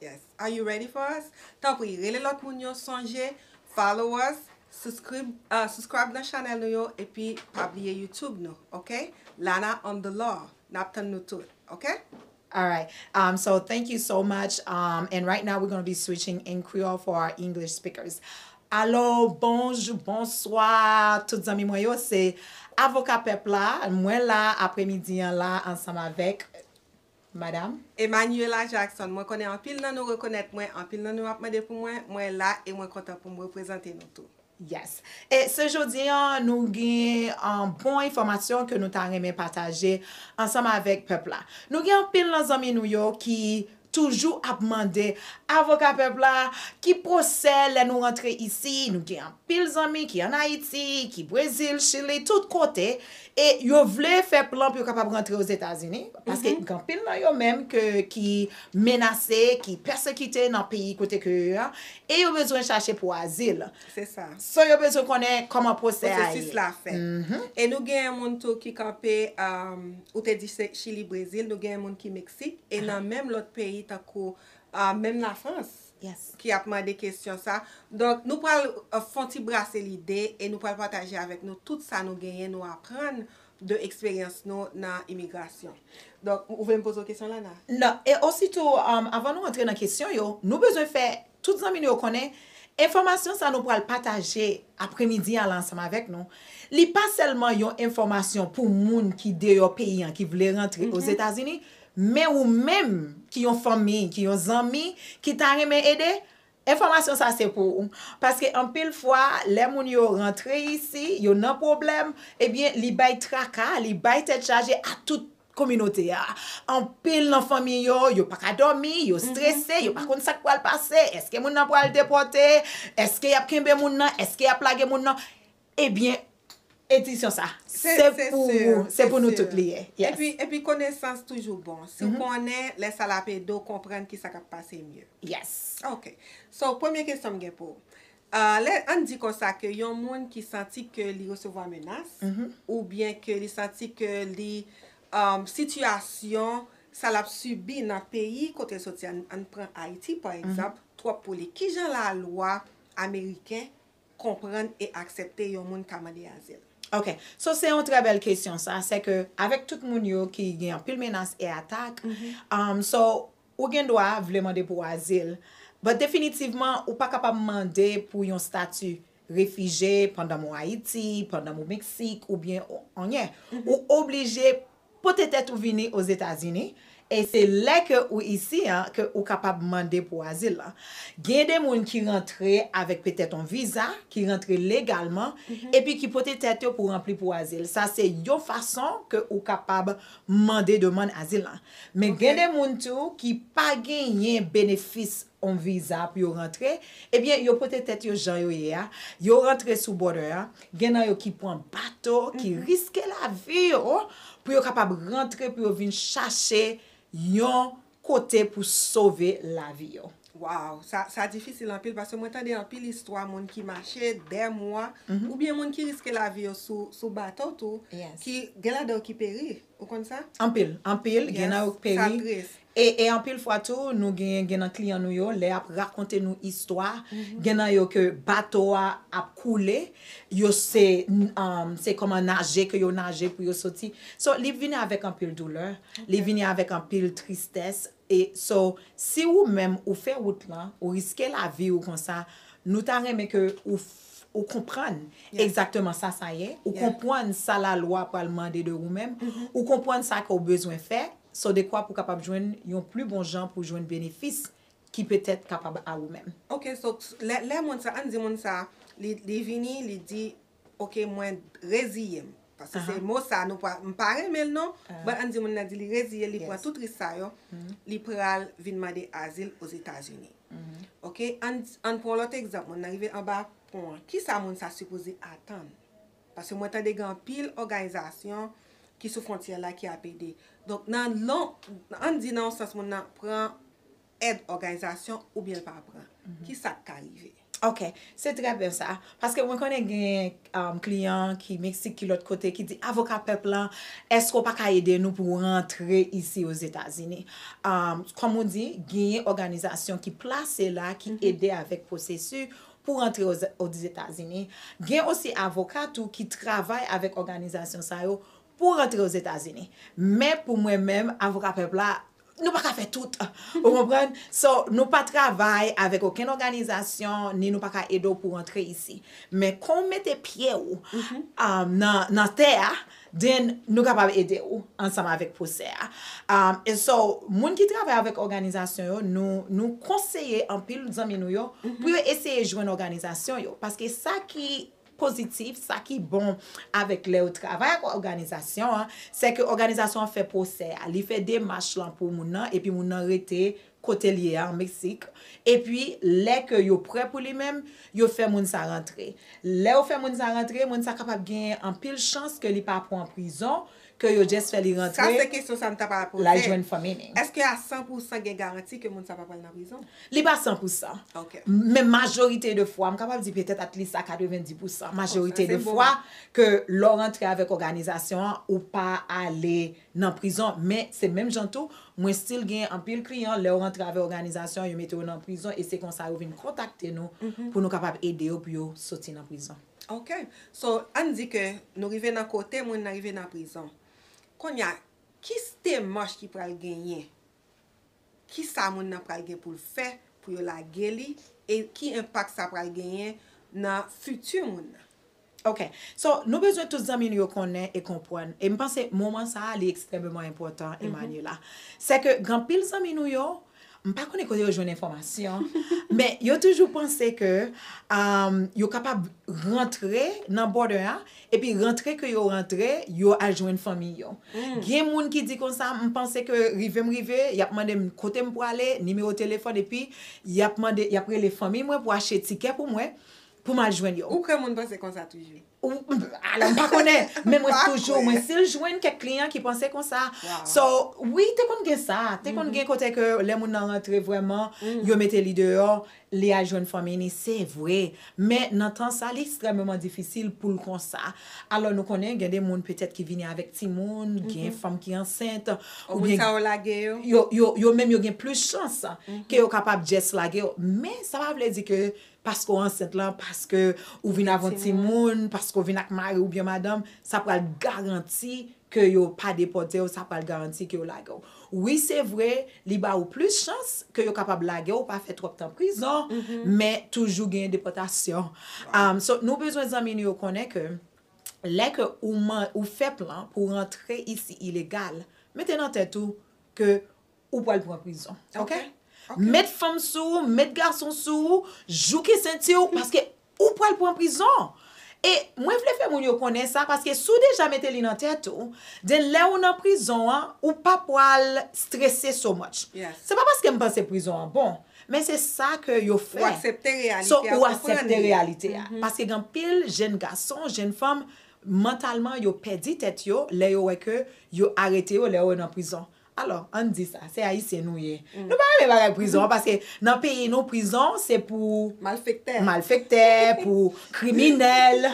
Yes are you ready for us tanpri rele lòt moun yo sonje follow us suscrib subscribe nan chanèl nou yo epi pa bliye youtube nou ok lana on the law nap tann nou tout ok. Alright um so thank you so much um and right now we gonna be switching in creole for our English speakers Alo bonjou bonswa tout zanmi mwen yo se avoka pèp la mwen la apremidi an la ansanm avèk madam. Emmanuela Jackson, Mwen konnen anpil nan nou rekonèt mwen, anpil nan nou ap mande pou mwen, mwen la e mwen kontan pou m reprezante nou tou. Yes. E se jodi an nou gen bon enfòmasyon ke nou ta renmen pataje ansanm avèk pèp la. Nou gen anpil nan zanmi nou yo ki toujou ap mande avoka pèp la, ki pwosè lè nou rantre isi, nou gen anpil zanmi ki an Ayiti, ki Brezil, Chili, tout kote, E yo vle fè plan pou yo kapab rantre Ozetazini, paske gen anpil nan yo menm ki menase, ki pèsekite nan peyi kote ke yo a, e yo bezwen chache pou azil. Se sa. So yo bezwen konnen kòman pwosè a ye. Pwosesis la fèt. Mh. E nou gen moun tou ki kanpe, ou te di se Chili, Brezil, nou gen moun ki Meksik, e nan menm lòt peyi tankou menm Lafrans. ki ap mande kesyon sa. Donk nou pral fon ti brase lide e nou pral pataje avèk nou tout sa nou genyen nou aprann de eksperyans nou nan imigrasyon. Donk ou vle m poze w kesyon Lana? Non, e ositou avan nou antre nan kesyon yo, nou bezwen fè tout zanmi nou yo konnen enfòmasyon sa nou pral pataje apremidi an la ansanm avèk nou, li pa sèlman yon enfòmasyon pou moun ki deyò peyi an ki vle rantre Ozetazini, Men ou menm ki yon fanmi, ki yon zanmi, ki ta renmen ede, enfòmasyon sa se pou ou. Paske anpil fwa, lè moun yo rantre isi, yo nan pwoblèm, ebyen li bay traka, li bay tèt chaje a tout kominote a. Anpil nan fanmi yo, yo pa ka dòmi, yo strese, yo pa konn sa k pral pase, èske moun nan pral depòte, èske y ap kenbe moun nan, èske y ap lage moun nan. Ebyen edisyon sa se pou ou se pou nou tout li ye yes. Epi konesans toujou bon si w konnen lè sa lap ede w konprann kisa kap pase mye. Yes. Ok so premye kesyon m gen pou ou lè ann di konsa ke yon moun ki santi ke li resevwa menas oubyen ke li santi ke li sitiyasyon sa lap sibi nan peyi kote l soti ann pran ayiti pa egzanp twòp pou li kijan lalwa ameriken konprann e aksepte yon moun ka mande azil? Ok, so se yon trè bèl kesyon sa, sè ke avèk tout moun yo ki gen anpil menas e atak, so ou gen dwa vle mande pou azil, but definitivman ou pa kapab mande pou yon stati refije pandanm ou Ayiti, pandanm ou Meksik oubyen anyen. Ou oblije Pote tèt ou vini Ozetazini, e se lè ke ou isi an ke ou kapab mande pou azil lan. Gen de moun ki rantre avèk petèt on viza, ki rantre legalman, epi ki pote tèt yo pou ranpli pou azil. Sa se yon fason ke ou kapab mande demann azil lan. Men gen de moun tou ki pa genyen benefis on viza pou yo rantre, ebyen yo pote tèt yo jan yo ye a, yo rantre sou border an, Gen nan yo ki pran bato, ki riske lavi yo pou yo kapab rantre, pou yo vin chache yon kote pou sove lavi yo. Waww sa difisil anpil paske mwen tande anpil istwa moun ki mache dè mwa oubyen moun ki riske lavi yo sou bato tou ki gen ladan yo ki peri. Ou konn sa? Anpil, anpil, gen nan yo k peri. Yes, sa tris. E, e anpil fwa tou, nou genyen, gen nan kliyan nou yo, lè y ap rakonte nou istwa, gen nan yo ke bato a ap koule, yo se, se kòman naje ke yo naje pou yo soti. So, li vini avèk anpil doulè, li vini avèk anpil tristès. E, so, si ou menm ou fè wout lan, ou riske lavi ou konsa, nou ta renmen ke ou. Ou konprann egzakteman sa sa ye, ou konpwann sa lalwa pral mande de ou menm, ou konpwann sa ke ou bezwen fè, so dekwa pou kapab jwenn yon pli bon jan pou jwenn benefis ki petèt kapab a ou menm. Ok, so lè moun sa, ann di moun sa, li vini, li di, ok mwen reziye m. Paske se mo sa nou pral, m pa renmen l non, but ann di moun nan di li reziye l, li pran tout risk sa yo, li pral vin mande azil Ozetazini. Ok, ann pran yon lòt egzanp, moun nan rive anba pon an, kisa moun sa sipoze atann? Paske mwen tande gen anpil òganizasyon ki sou fwontyè la ki ap ede. Donk nan, ann di nan yon sans moun nan pran èd òganizasyon oubyen l pa pran, ki sa k ka rive? Ok, se trè byen sa. Paske mwen konnen gen kliyan ki Meksik, ki lòt kote, ki di, Avoka Pèp la, èske ou pa ka ede nou pou rantre isi Ozetazini? Kòm ou di, genyen òganizasyon ki plase la, ki ede avèk pwosesu pou rantre Ozetazini. Gen osi avoka tou ki travay avèk òganizasyon sa yo pou rantre ozetazini men pou mwen menm avoka pèp la nou paka fè tout ou konprann so nou pa travay avèk okenn òganizasyon ni nou paka ede w pou rantre isi men kon w mete pye w nan tè a then nou kapab ede w ansanm avèk pwosè a e so moun ki travay avèk òganizasyon yo nou konseye anpil zanmi nou yo pou yo eseye jwenn òganizasyon yo paske sa ki pozitif, sa ki bon avèk lè ou travay ak òganizasyon an, se ke òganizasyon an fè pwosè a, li fè demach lan pou moun nan, epi moun nan rete kote l ye a, an Meksik, epi lè ke yo prè pou li menm, yo fè moun sa rantre. Lè yo fè moun sa rantre, moun sa kapab genyen anpil chans ke li pa pwan prizon, Ke yo just fè li rantre. Sa se kesyon sa m ta pral poze. Lal jwenn fanmi ni. Eske a 100 pou 100 gen garanti ke moun sa pa pral nan prizon? Li pa 100 pou 100. Ok. Men majorite de fwa, m kapab di petèt at least a 90 pou 100. Majorite de fwa ke lè w rantre avèk òganizasyon an, ou pa ale nan prizon. Men se menm jan tou, mwen still gen anpil kliyan lè yo rantre avèk òganizasyon an, yo mete yo nan prizon e se konsa yo vin kontakte nou pou nou kapab ede yo pou yo soti nan prizon. Ok so ann di ke nou rive nan kote moun nan rive nan prizon konnya kis demach ki pral genyen kisa moun nan pral gen poul fè pou yo lage li e ki enpak sa pral genyen nan fiti moun nan. Ok so nou bezwen tout zanmi nou yo konnen e konpwann e m panse moman sa li ekstrèmeman enpòtan Emmanuela sèke gen anpil zanmi nou yo M pa konnen kote yo jwenn enfòmasyon, men yo toujou panse ke yo kapab rantre nan border a, epi rantre ke yo rantre, yo al jwenn fanmi yo. Gen moun ki di konsa, m panse ke rive m rive, y ap mande m kote m pwale, nimewo telefòn, epi y ap mande, y ap rele fanmi mwen pou achte tikè pou mwen, pou m al jwenn yo. Ou kwè moun panse konsa toujou? Ala m pa konnen men mwen toujou mwen si l jwenn kèk kliyan ki panse konsa so wi te konn gen sa te konn gen kote ke lè moun nan rantre vrèman yo mete li deyò li al jwenn fanmi ni se vre men nan tan sa li ekstrèmeman difisil pou l konsa alò nou konnen gen de moun petèt ki vini avèk timoun gen fanm ki ansent oubyen sa yo lage yo yo menm yo gen plis chans ke yo kapab just lage yo men sa pa vle di ke paske w ansent lan, paske ou vin avè yon timoun, paske w vin ak mari ou byen madanm, sa pral garanti ke yo pa depòte w, sa pral garanti ke yo lage w. Wi se vre, li ba ou plis chans ke yo kapab lage w, pa fè twòp tan prizon, men toujou gen depòtasyon. So, nou bezwen zanmi nou yo konnen ke lè ke ou fè plan pou w rantre isi ilegal, mete nan tèt ou ke ou pwal pran prizon ok met fanm sou ou met gason sou ou jouke senti ou paske ou pwal pran prizon e mwen vle fè moun yo konnen sa paske sou deja mete li nan tèt ou den lè ou nan prizon an ou pa pwal strese so much se pa paske m panse prizon an bon men se sa ke yo fè ou asepte reyalite a paske gen pil jenn gason jenn fanm mantalman yo pèdi tèt yo lè yo wè ke yo arete yo lè yo nan prizon Alò, ann di sa, se Ayisyen nou ye. Nou pa renmen bagay prizon an paske nan peyi nou prizon se pou. Malfektè. Malfektè, pou kriminèl,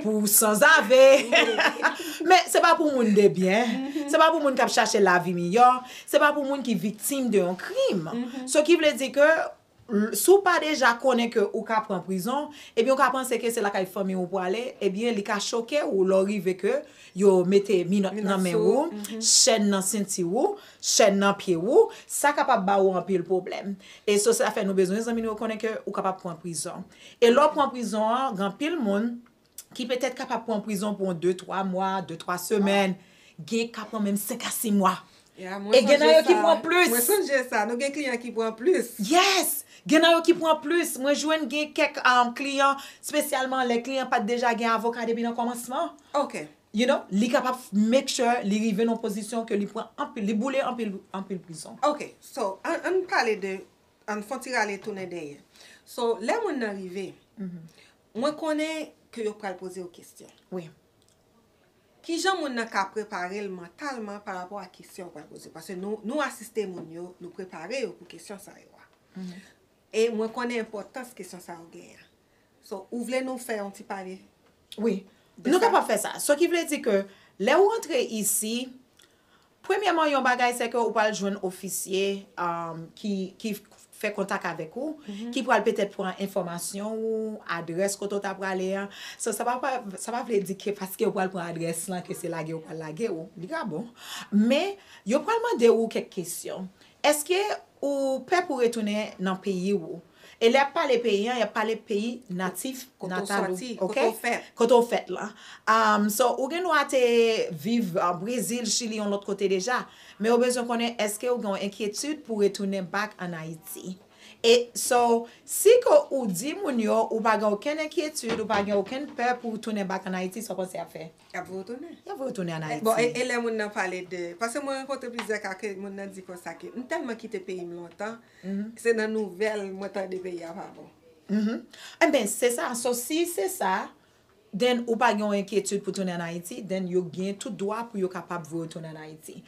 pou sanzave. Men, se pa pou moun de byen. Se pa pou moun k ap chache lavi miyò. Se pa pou moun ki viktim de yon krim. So ki vle di ke Si w pa deja konnen ke ou ka pran prizon, ebyen ou ka panse ke se lakay fanmi ou pwale, ebyen li ka choke ou lè w rive ke yo mete minòt nan men ou, chèn nan senti ou, chèn nan pye ou, sa kapab ba ou anpil pwoblèm. E so sa fè nou bezwen zanmi nou yo konnen ke ou kapab pran prizon. E lè w pran prizon an, gen anpil moun ki petèt kapab pran prizon pou yon 2, 3 mwa, 2, 3 semèn, gen ka pran menm 5 a 6 mwa. Ya, mwen sonje sa. E gen nan yo ki pran plis. Mwen sonje sa. Nou gen kliyan ki pran plis. Yes! Gen nan yo ki pran plis. Mwen jwenn gen kèk kliyan, spesyalman lè kliyan an pa t deja gen avoka depi nan kòmansman. Ok. You know, li kapab make sure li rive nan yon pozisyon ke li pran anpil, li boule anpil, anpil prizon. Ok. So, ann pale de, ann fon ti rale tounen dèyè. So, lè moun nan rive, Mwen konnen ke yo pral poze w kestyon. Wi. Kijan moun nan ka prepare l mantalman pa rapò a kestyon yo pral poze l? Paske nou, nou asiste moun yo, nou prepare yo pou kestyon sa yo a. E mwen konnen enpòtans kestyon sa yo genyen an. So, ou vle nou fè yon ti pale? Wi. Nou kapab fè sa. Sa ki vle di ke lè ou antre isi, Premyèman yon bagay se ke ou pral jwenn ofisye ki fè kontak avèk ou, ki pral petèt pran enfòmasyon ou, adrès kote ou ta prale a. So sa pa vle di ke paske yo pral pran adrès lan ke se lage yo pral lage ou. Li ka bon. Men, yo pral mande ou kèk kesyon. Eske ou pè pou retounen nan peyi ou? E lè y ap pale peyi an, y ap pale peyi natif natal ou, ok, kote ou fèt lan. So, ou gen dwa te viv Brezil, Chili, yon lòt kote deja, men yo bezwen konnen èske ou gen yon enkyetid pou retounen bak an Ayiti. E so, si ke ou di moun yo ou pa gen okenn enkyetid, ou pa gen okenn pè pou ou tounen bak an Ayiti, sa w panse y ap fè? Y ap voye w tounen. Y ap voye w tounen an Ayiti. Bon, e lè moun nan pale de, paske mwen rankontre plizyè ka ke moun nan di konsa ke m tèlman kite peyi m lontan, Se nan nouvel mwen tande peyi a pa bon. Enben se sa, so si se sa, then ou pa gen yon enkyetid pou tounen an Ayiti, then yo gen tout dwa pou yo kapab voye w tounen an Ayiti.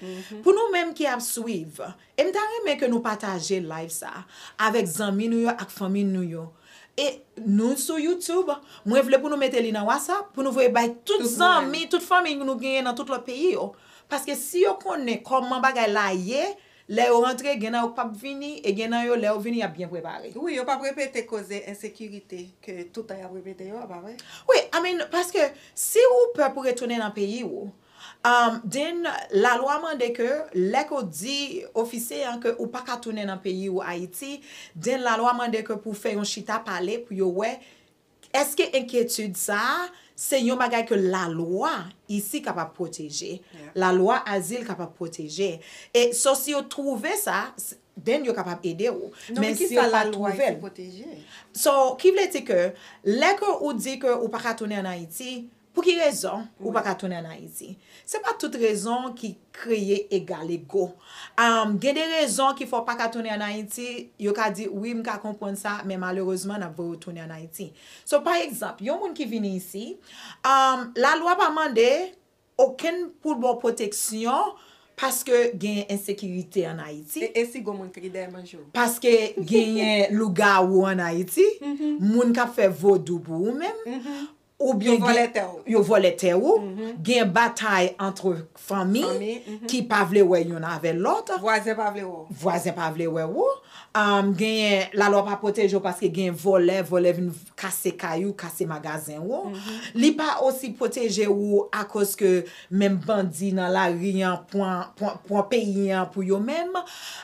Pou nou menm ki ap swiv, e m ta renmen ke nou pataje live sa a avèk zanmi nou yo ak fanmi nou yo, e nou sou YouTube, mwen vle pou nou mete li nan WhatsApp pou nou voye bay tout zanmi, tout fanmi nou genyen nan tout lòt peyi yo, paske si yo konnen kòman bagay la ye, Lè yo rantre, gen nan yo k pap vini, e gen nan yo, lè yo vini, y ap byen prepare. Wi, yo pap repete koze ensekirite ke toutan y ap repete yo a, pa vre? Wi, I mean, paske si ou pè pou retounen nan peyi ou, then lalwa mande ke lè ke w di ofisye an ke ou pa ka tounen nan peyi ou Ayiti, then lalwa mande ke pou w fè yon chita pale pou yo wè Èske enkyetid sa a se yon bagay ke lalwa isi kapab pwoteje, lalwa azil kapab pwoteje? E so si yo twouve sa, then yo kapab ede ou. Non, men ki sa lalwa isi pwoteje? So, ki vle di ke lè ke ou di ke ou pa ka tounen an Ayiti, Pou ki rezon ou pa ka tounen an Ayiti? Se pa tout rezon ki kreye egal ego. Gen de rezon ki fè w pa ka tounen an Ayiti, yo ka di wi m ka konprann sa men malerezman n ap voye w tounen an Ayiti. So pa egzanp, yon moun ki vini isi, lalwa pa mande okenn pou l ba w pwoteksyon paske gen ensekirite an Ayiti. E si gon moun ki dèyè manje w? Paske genyen lougawou an Ayiti, moun k ap fè vodou pou ou menm, Ou byen gen. Yo vòlè tè ou. Yo vòlè tè ou. Gen batay antre fanmi. Fanmi. Ki pa vle wè youn avè lòt. Vwazen pa vle wè ou. Vwazen pa vle wè ou. Genyen lalwa pa pwoteje ou paske gen vòlè, vòlè vin kase kay ou, kase magazen ou. Li pa osi pwoteje ou akoz ke menm bandi nan lari an pran peyi an pou yo menm.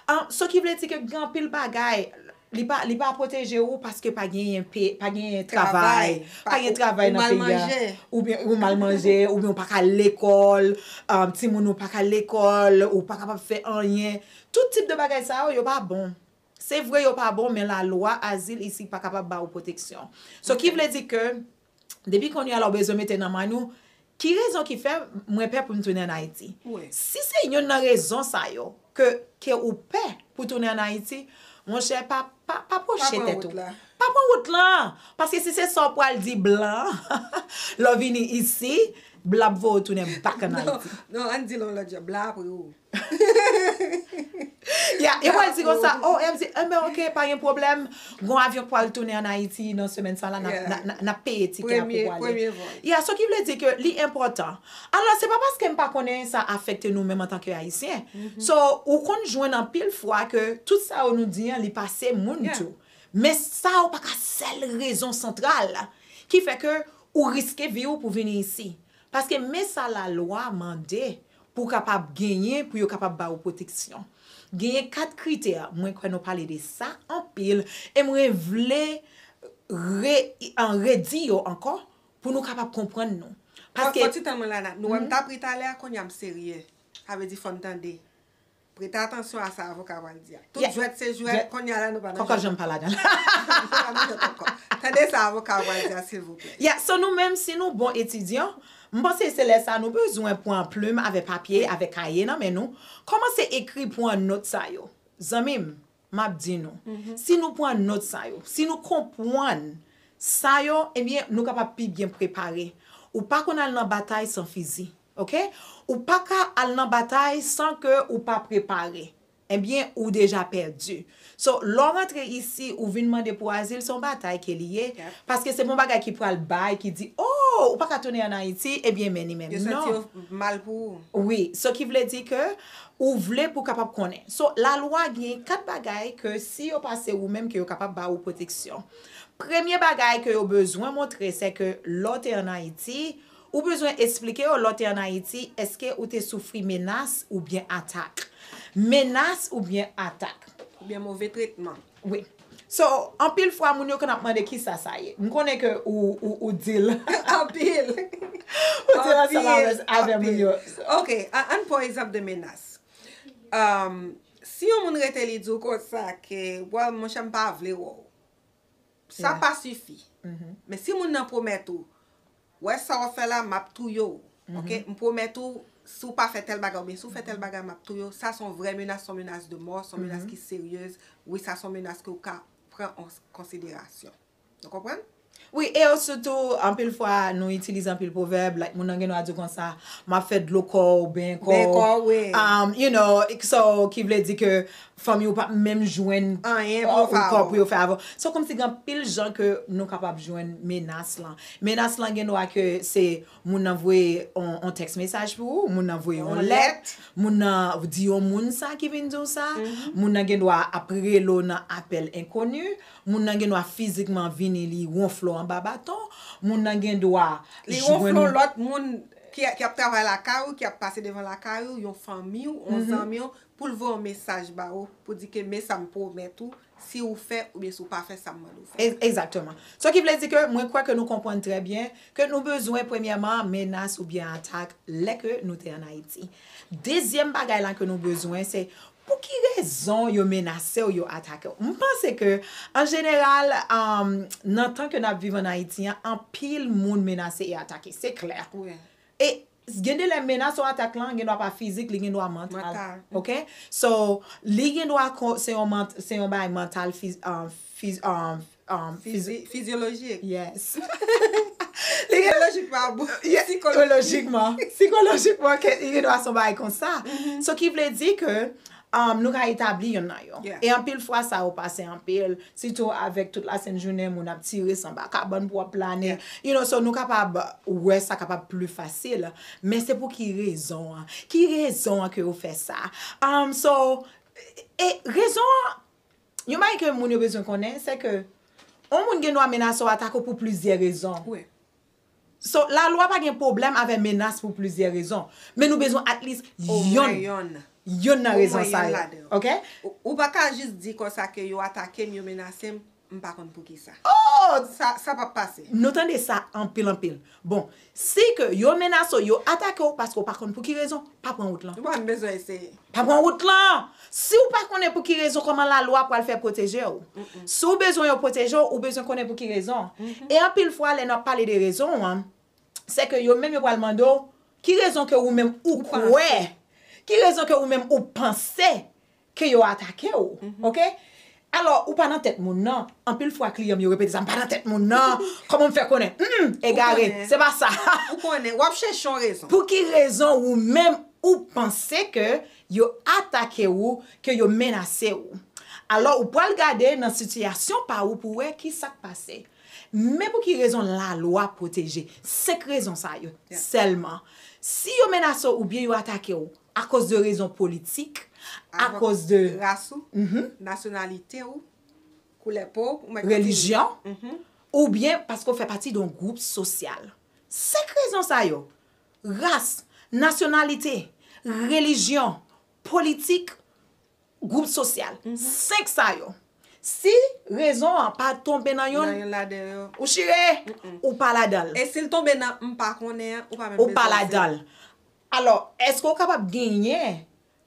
An, so ki vle di ke gen anpil bagay. Li pa li pa pwoteje ou paske pa genyen pe pa genyen travay pa gen travay nan peyi a ou mal manje oubyen ou mal manje oubyen ou pa ka al lekòl timoun ou pa ka al lekòl ou pa kapab fè anyen tout tip de bagay sa yo yo pa bon se vre yo pa bon men lalwa azil isi pa kapab ba ou pwoteksyon so ki vle di ke Depi kounye a la ou bezwen mete nan mind ou, ki rezon ki fè mwen pè pou m tounen an Ayiti? Si se youn nan rezon sa yo ke ou pè pou tounen an Ayiti, monchè pa pwoche tèt ou. Pa pran wout la. Paske si se sa ou pral di blan an lè w vini isi, blan ap voye w tounen back an Ayiti. Non, non, an n di l yon lòt jan, blan ap ri w. Yeah, yo pral di konsa, OMG, enben ok, pa gen pwoblèm, gon avyon k pral tounen an Ayiti nan semèn sa la, n ap peye tikè a pou w ale. Premye vòl. Yeah, sa ki vle di ke li enpòtan. Alò, se pa paske m pa konnen sa afekte nou menm antanke Ayisyen. So, ou konn jwenn anpil fwa ke tout sa yo nou di an li pase moun tou. Men sa yo pa ka sèl rezon santral ki fè ke ou riske vi ou pou vini isi. Paske men sa lalwa mande. Pou kapab genyen, pou yo kapab ba ou pwoteksyon. Genyen 4 kritè, mwen kwè nou pale de sa anpil, e mwen vle re, redi yo ankò, pou nou kapab konprann nou. Paske. Fò ti tan mwen la, nou wè m ta pri talè a, kounye a m serye. Sa vle di fò n tande. Prete atansyon a sa avoka pral di a. Tout jwèt se jwèt, konnya la nou pa nan jwèt ankò. Kòkòt janm pa ladan. Nou pa nan jwèt ankò. Tande sa avoka a pral di a silvouplè. Yeah, so nou menm si nou bon etidyan, m panse se lè sa nou bezwen pran plim avè papye, avè kaye nan men nou, kòmanse ekri pran nòt sa yo. Zanmi m, m ap di nou, si nou pran nòt sa yo, si nou konpwann sa yo, ebyen nou kapab pi byen prepare. Ou pa konn al nan batay san fizi. Ok ou paka al nan batay san ke ou pa prepare ebyen ou deja pèdi so lè w rantre isi ou vin mande pou azil se yon batay ke li ye paske se pa yon bagay ki pral bay ki di oh ou paka tounen an ayiti ebyen men li menm non yo santi yo mal pou ou wi so ki vle di ke ou vle pou kapab konnen so la lwa gen 4 bagay ke si yo pase ou menm ke yo kapab ba ou pwoteksyon premye bagay ke yo bezwen montre se ke lè w te an ayiti Ou bezwen esplike yo lè w te an Ayiti èske ou te soufri menas oubyen atak. Menas oubyen atak. Oubyen move tretman. Wi. So, anpil fwa moun yo konn ap mande kisa sa ye. M konnen ke ou di l. Anpil. Ou di l ansanm avè moun yo. Ok, ann pran egzanp de menas. Si yon moun rete li di w konsa ke, well monchè m pa vle wè w. Sa pa sifi. Men si moun nan pwomèt ou, wè sa wap fè la map touye w. Ok, m pwomèt ou si w pa fè tèl bagay oubyen si w fè tèl bagay map touye w, sa son vrè menas, son menas de mò, son menas ki seryez, wi sa son menas ke w ka pran an konsiderasyon. Nou konprann? Wi, e yo sitou anpil fwa nou itilize anpil pwovèb, like moun nan gen dwa di w konsa, map fè dlo kò w, benyen kò w, you know, so ki vle di ke Fanmi ou pap menm jwenn anyen pou ou ankò pou yo fè avè w. Se kòmsi gen anpil jan ke nou kapab jwenn menas lan. Menas lan gen dwa ke se moun nan voye yon tèks mesaj pou ou, moun nan voye yon lèt, moun nan di yon moun sa ki vin di w sa, moun nan gen dwa ap rele w nan apèl enkoni, moun nan gen dwa fizikman vini li wonfle w anba baton, moun nan gen dwa jwenn Li wonfle yon lòt moun ki ap travay lakay ou, ki ap pase devan lakay ou, yon fanmi w, yon zanmi w, Pou l voye yon mesaj ba ou, pou di ke men sa m pwomèt ou, si ou fè oubyen si ou pa fè sa m mande ou fè a. Egzakteman. Sa ki vle di ke mwen kwè ke nou konprann trè byen ke nou bezwen premyèman menas oubyen atak lè ke nou te an Ayiti. Dezyèm bagay la ke nou bezwen se pou ki rezon yo menase w, yo atake w. M panse ke an jeneral nan tan ke n ap viv an Ayiti an, anpil moun menase e atake. Se klè. E Gen de lè menas ou atak lan gendwa pa fizik li gendwa mantal ok so li gendwa se yon bagay mantal fizyolojik yes sikolojikman sikolojikman li gendwa se yon bagay konsa so ki vle di ke nou ka etabli yonn nan yo. E anpil fwa sa yo pase anpil, sitou avèk tout la sent jounen moun ap tire san ba kabann pou ap plane, you know, so nou kapab wè sa kapab pli fasil. Men se pou ki rezon an? Ki rezon an ke yo fè sa? So, e rezon an, yon bagay ke moun yo bezwen konnen, se ke yon moun gen dwa menase w atake w pou plizyè rezon. So, lalwa pa gen pwoblèm avè menas pou plizyè rezon. Men nou bezwen at least yonn, yonn nan rezon sa yo. Ok? Ou pa ka jis di konsa ke yo atake m, yo menase m, m pa konn poukisa. Oh! Sa, sa p ap pase. Nou tande sa anpil anpil. Bon, si ke yo menase w, yo atake w paske w pa konn pou ki rezon, pa pran wout lan. Bon, m bezwen eseye. Pa pran wout lan! Si ou pa konnen pou ki rezon kòman lalwa pral fè pwoteje ou. Si ou bezwen yo pwoteje ou, ou bezwen konnen pou ki rezon. E anpil fwa lè nap pale de rezon an, se ke yo menm yo pral mande ou, ki rezon ke ou menm ou kwè, ki rezon ke ou menm ou panse ke yo atake ou. Ok? Alò, ou pa nan tèt moun nan. Anpil fwa kliyan m yo repete sa, m pa nan tèt moun nan. Kòman m fè konnen? Hum! Egare, se pa sa. Ou konnen, w ap chèche yon rezon. Pou ki rezon ou menm ou panse ke yo atake ou, ke yo menase ou? Alò, ou pral gade nan sitiyasyon pa ou pou wè ki sa k pase. Men pou ki rezon lalwa pwoteje. Senk rezon sa yo sèlman. Si yo menase w oubyen yo atake w, Akoz de rezon politik, akoz de. Ras ou, nasyonalite ou, koulè po ou. Relijyon, oubyen paske ou fè pati de yon gwoup sosyal. Senk rezon sa yo, ras, nasyonalite, relijyon, politik, gwoup sosyal. Senk sa yo. Si rezon an pa tonbe nan youn. Nan youn ladan yo. Ou chire, ou pa ladan l. E si l tonbe nan m pa konnen an, ou pa menm bezwen di. Ou pa ladan l. Alò, èske ou kapab genyen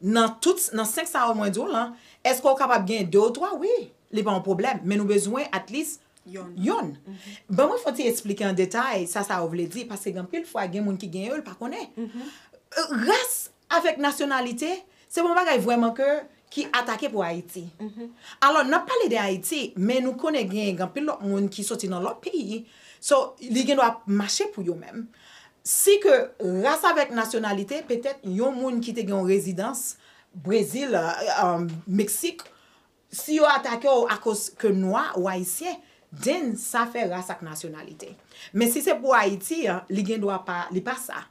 nan tout, nan 5 sa yo mwen di w lan, èske ou kapab genyen 2 ou 3? Wi, li pa yon pwoblèm, men nou bezwen at least yonn. Ban mwen fè yon ti esplike an detay sa sa yo vle di, paske gen anpil fwa gen moun ki gen yo, l pa konnen. Ras avèk nasyonalite, Se bon bagay vrèman ke ki atake pou Ayiti. Alò nap pale de Ayiti, men nou konnen gen anpil lòt moun ki soti nan lòt peyi, so li gen dwa mache pou yo menm. Si ke ras avèk nasyonalite, petèt yon moun ki te gen yon rezidans Brezil, Meksik, si yo atake w akoz ke nwa ou ayisyen, then sa fè ras ak nasyonalite. Men si se pou Ayiti, li gen dwa pa, li pa sa.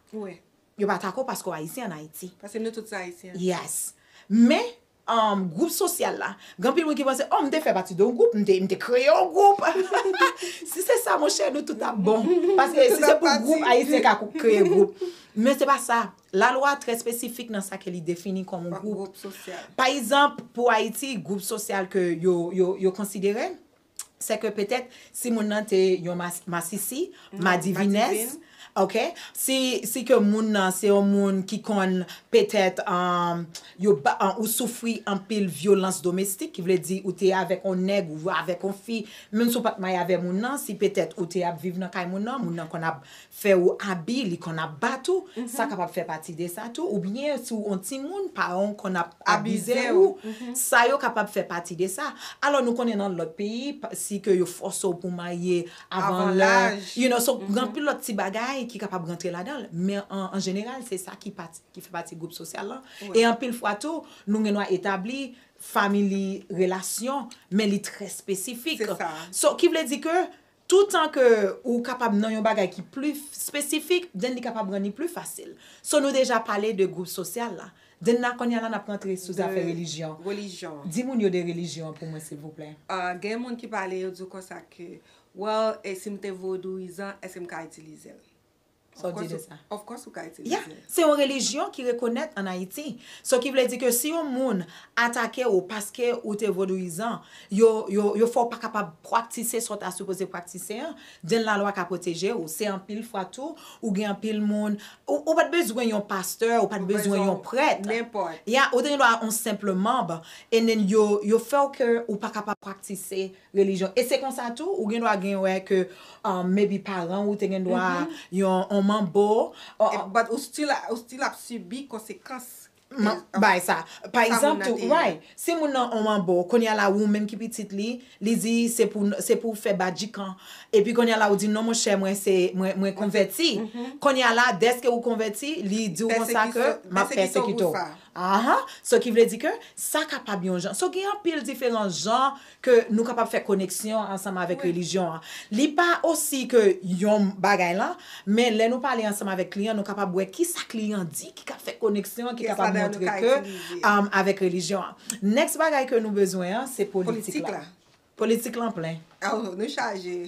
Yo pa tako paske w Ayisyen an Ayiti. Paske nou tout se Ayisyen. Yes. Men, gwoup sosyal la, gen anpil moun ki panse, oh m te fè pati de yon gwoup, m te kreye yon gwoup. Si se sa monchè, nou tout ap bon. Paske si se pou gwoup, Ayisyen ka kreye gwoup. Men se pa sa. La lwa trè espesifik nan sa ke li defini kòm yon gwoup. Pa egzanp, pou Ayiti, gwoup sosyal ke yo konsidere, sè ke petèt si moun nan te yon masisi, madivinès, ok, si ke moun nan se yon moun ki konn petèt ou soufri anpil vyolans domestik, ki vle di ou te avèk yon nèg ou avèk yon fi, menm si ou pa t maye avè moun nan, si petèt ou te ap viv nan kay moun nan, moun nan konn ap fè ou abi li konn ap bat ou sa kapab fè pati de sa tou oubyen si w on timoun paran w konn ap abize ou sa yo kapab fè pati de sa alò nou konnen nan lòt peyi si ke yo fòse w pou marye avan lè you know so gen anpil lòt ti bagay ki kapab rantre ladan men an jeneral se sa ki fè pati gwoup sosyal lan e anpil fwa tou nou gen dwa etabli family relasyon men li trè espesifik so ki vle di ke Toutan ke ou kapab nan yon bagay ki pli spesifik, then li kapab rann li pli fasil. So nou deja pale de gwoup sosyal la. Then la kounye a la n ap rantre sou zafè relijyon. De relijyon. Di moun yo de relijyon an pou mwen silvouplè. Gen moun ki pale yo di w konsa ke, well e si m te vodouyizan èske m ka itilize l? Sa w di de sa? Of course ou ka itilize. Yeah, se yon relijyon ki rekonèt an Ayiti. So ki vle di ke si yon moun atake ou paske ou te vodouyizan, yo fè w pa kapab praktise sa w ta sipoze praktise an, den lalwa ka pwoteje ou. Se anpil fwa tou, ou gen anpil moun, ou pa t bezwen yon pastè, ou pa t bezwen yon prèt. Yeah, ou te gen dwa yon senpl manb, and then yo fè w ke ou pa kapab praktise sa. relijyon e se konsa tou ou gen dwa gen wè ke maybe paran ou te gen dwa yon on manbo but ou still ou still ap sibi konsekans bagay sa pa egzanp tou right si moun nan on manbo kounye a la ou menm ki pitit li li di se pou se pou fè badjikan epi kounye a la ou di non monchè mwen se mwen konvèti kounye a la dèske ou konvèti li di ou konsa ke m ap pèsekite w aah so ki vle di ke sa kapab yon jan so gen anpil diferan jan ke nou kapab fè koneksyon ansanm avèk relijyon an. Li pa osi ke yon bagay lan, men lè nou pale ansanm avèk kliyan, nou kapab wè kisa kliyan di ki ka fè koneksyon an, ki kapab montre ke avèk relijyon an. Next bagay ke nou bezwen an, se politik la. Politik lan plen. Oh, nou chaje.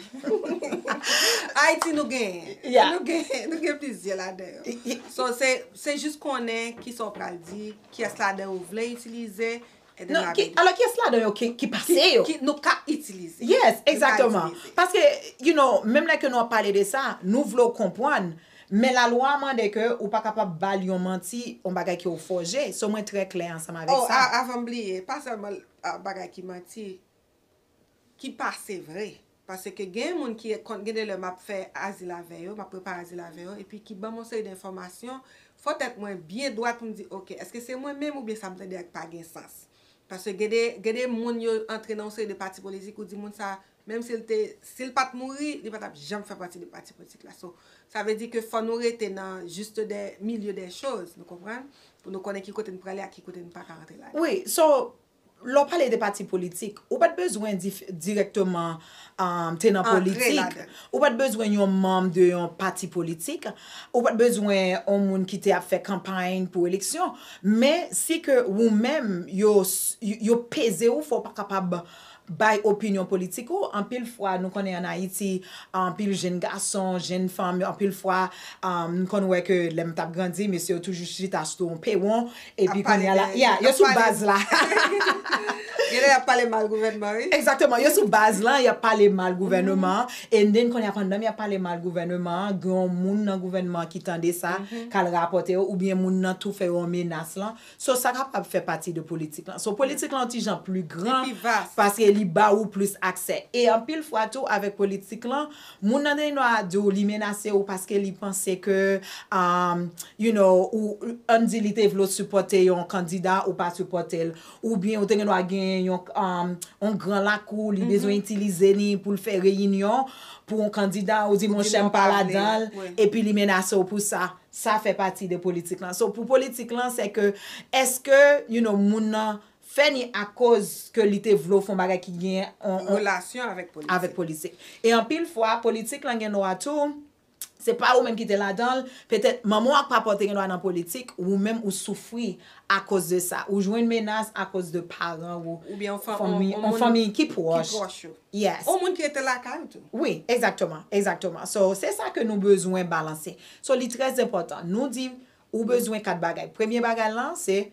Ayiti nou genyen. Ya. Nou genyen, nou gen plizyè ladan yo. So, se jis konnen kisa ou pral di, kiyès ladan ou vle itilize, Nan, ki, alò kiyès ladan yo ki, ki pase yo? Ki nou ka itilize. Yes, exactement. Paske, you know, menm lè ke nou ap pale de sa, nou vle w konpwann, men lalwa a mande ke ou pa kapab ba l yon manti, yon bagay ke ou fòje. So mwen trè klè ansanm avèk sa. Oh, avan m bliye, pa sèlman bagay ki manti. Ki pase vre. Pase ke gen moun ki kon gen de lè map fè azil avè yo, map prepare azil avè yo, epi ki banm yon seri denfòmasyon, fò tèt mwen byen dwat pou m di ok, eske se mwen menm oubyen sa m tande a ki pa gen sans. Pase gen de, gen de moun yo antre nan yon seri de pati politik ou di moun sa, menm si l te, si l pat mouri, li pa tap janm fè pati de pati politik la. So, sa vle di ke fò nou rete nan juste de, milieu des choses, nou konprann? Pou nou konnen ki kote n prale ak ki kote n paka rantre ladan. Wi, so, Lè w pale de pati politik, ou pa t bezwen dirèkteman te nan politik, ou pa t bezwen yon manm de yon pati politik, ou pa t bezwen yon moun ki te ap fè kanpay pou eleksyon. Men, si ke ou menm, yo peze ou fè w pa kapab bay opinyon politik ou, anpil fwa nou konnen an Ayiti, anpil jenn gason, jenn fanm, anpil fwa m konn wè ke lè m t ap grandi, mesye yo toujou chita sou yon pewon, Epi kounya la, ya, yo sou baz la. Genlè y ap pale mal gouvènman wi. Egzakteman, yo sou baz la, y ap pale mal gouvèneman an, and then kounya pandan y ap pale mal gouvèneman an, gen yon moun nan gouvènman an ki tande sa, k al rapòte yo, oubyen moun nan tou fè yon menas lan. So sa kapab fè pati de politik lan. So politik lan yon ti jan pli gran, paske li ba ou plis aksè. E anpil fwa tou avèk politik lan, Moun nan Trèy Nwa a di w li menase w paske li panse ke you know ou ann di li te vle w sipòte yon kandida ou pa sipòte l oubyen ou te gen dwa genyen yon gran lakou li bezwen itilize li pou l fè reyinyon pou yon kandida ou di monchè m pa ladan l epi li menase w pou sa sa fè pati de politik lan so pou politik lan se ke eske you know moun nan fè ni akoz ke li te vle w fon bagay ki gen yon relasyon avèk politik e anpil fwa politik lan gen nwa tou se pa ou menm ki te ladan l petèt manman w ak papa w te gen nwa nan politik ou menm ou soufri akoz de sa ou jwenn menas akoz de paran ou oubyen yon fanmi ki pwòch ou yes yon moun ki rete lakay ou tou wi egzakteman egzakteman so se sa ke nou bezwen balanse so li trèzenpòtan nou di ou bezwen kat bagay premye bagay lan se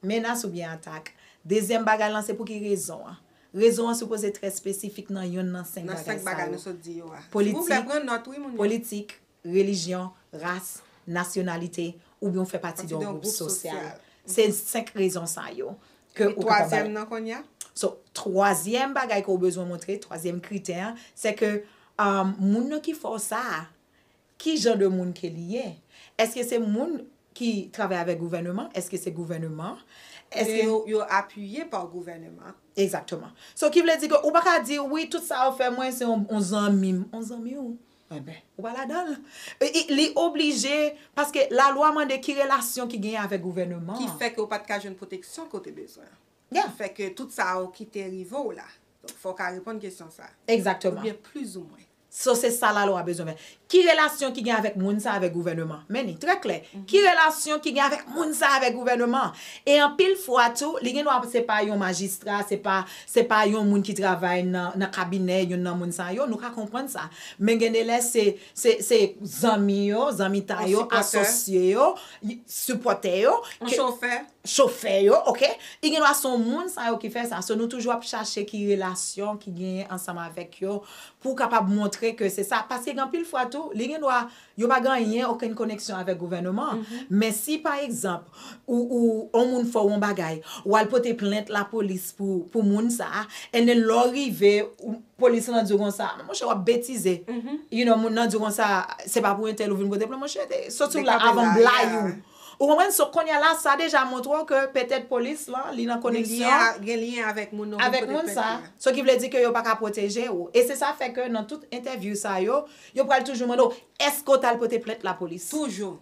Menas oubyen atak. Dezyèm bagay lan se pouki rezon an. Rezon an sipoze trè espesifik nan yonn nan senk bagay sa yo, politik, politik, relijyon, ras, nasyonalite, oubyen ou fè pati de yon gwoup sosyal. Se senk rezon sa yo ke ou kapab bay. Epi twazyèm nan kounye a? So, twazyèm bagay ke ou bezwen montre, twazyèm kritè an, se ke moun nan ki fè w sa a, Ki jan de moun ke li ye? Eske se moun ki travay avèk gouvèneman? Eske se gouvèneman? Eske. Oubyen yo apiye pa gouvèneman? Egzakteman. So ki vle di ke ou pa ka di, wi tout sa yo fè mwen se yon zanmi m. Yon zanmi ou? Enben, ou pa ladan l. Li oblije, paske lalwa mande ki relasyon ki genyen avèk gouvèneman an. Ki fè ke ou pa t ka jwenn pwoteksyon ke ou te bezwen. Ya. Ki fè ke tout sa yo ki te rive ou la. Donk fò w ka reponn kesyon sa a. Egzakteman. Oubyen plizoumwen. So se sa lalwa bezwen fè. Ki relasyon ki gen avèk moun sa avèk gouvèneman? Men li, trè klè. Ki relasyon ki gen avèk moun sa avèk gouvèneman? E anpil fwa tou, li gen dwa se pa yon majistra, se pa, se pa yon moun ki travay nan, nan kabinè youn nan moun sa yo, nou ka konprann sa. Men gen de lè se, se, se zanmi yo, zanmitay yo, asosye yo, sipòtè yo. Yon chofè. chofè yo ok e gen dwa son moun sa yo ki fè sa so nou toujou ap chache ki relasyon ki genyen ansanm avèk yo pou kapab montre ke se sa paske gen anpil fwa tou li gen dwa yo pa gen anyen okenn koneksyon avèk gouvèneman men si pa egzanp ou ou on moun fè w on bagay ou al pote plent lapolis pou pou moun sa and then lè w rive ou polis lan di w konsa men monchè w ap betize you know moun nan di w konsa se pa pou entèl ou vin pote plent monchè te soti w la avan m blayi w Ou konprann? So kounye a la, sa deja montre w ke petèt polis lan, li nan koneksyon, Gen lyen avèk moun nan avèk moun sa, so ki vle di ke yo pa ka pwoteje ou. E se sa fè ke nan tout entèvyou sa yo, yo pral toujou mande w, Èske ou t al pote plent lapolis? Toujou.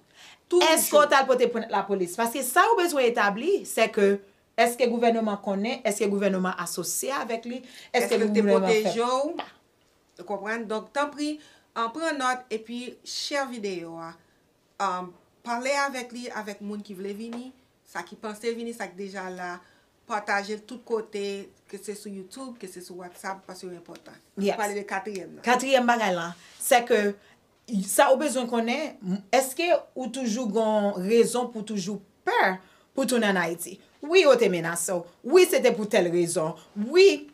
Toujou. Èske ou t al pote plent lapolis? Paske sa yo bezwen etabli, se ke, èske gouvèneman konnen, èske gouvèneman asosye avèk li, èske gouvèneman fè pa. Èske l te pwoteje w? Ou konprann? Donk, tanpri, pran nòt, epi share videyo a. Pale avèk li, avèk moun ki vle vini, sa ki panse vini, sa ki deja la, pataje l tout kote, ke se sou YouTube, ke se sou WhatsApp, paske yo enpòtan. Ou vle pale de katriyèm nan? Katriyèm bagay lan, sè ke sa ou bezwen konnen, èske ou toujou gon rezon pou toujou pè pou tounen an Ayiti? Wi yo te menase w, wi se te pou tèl rezon, wi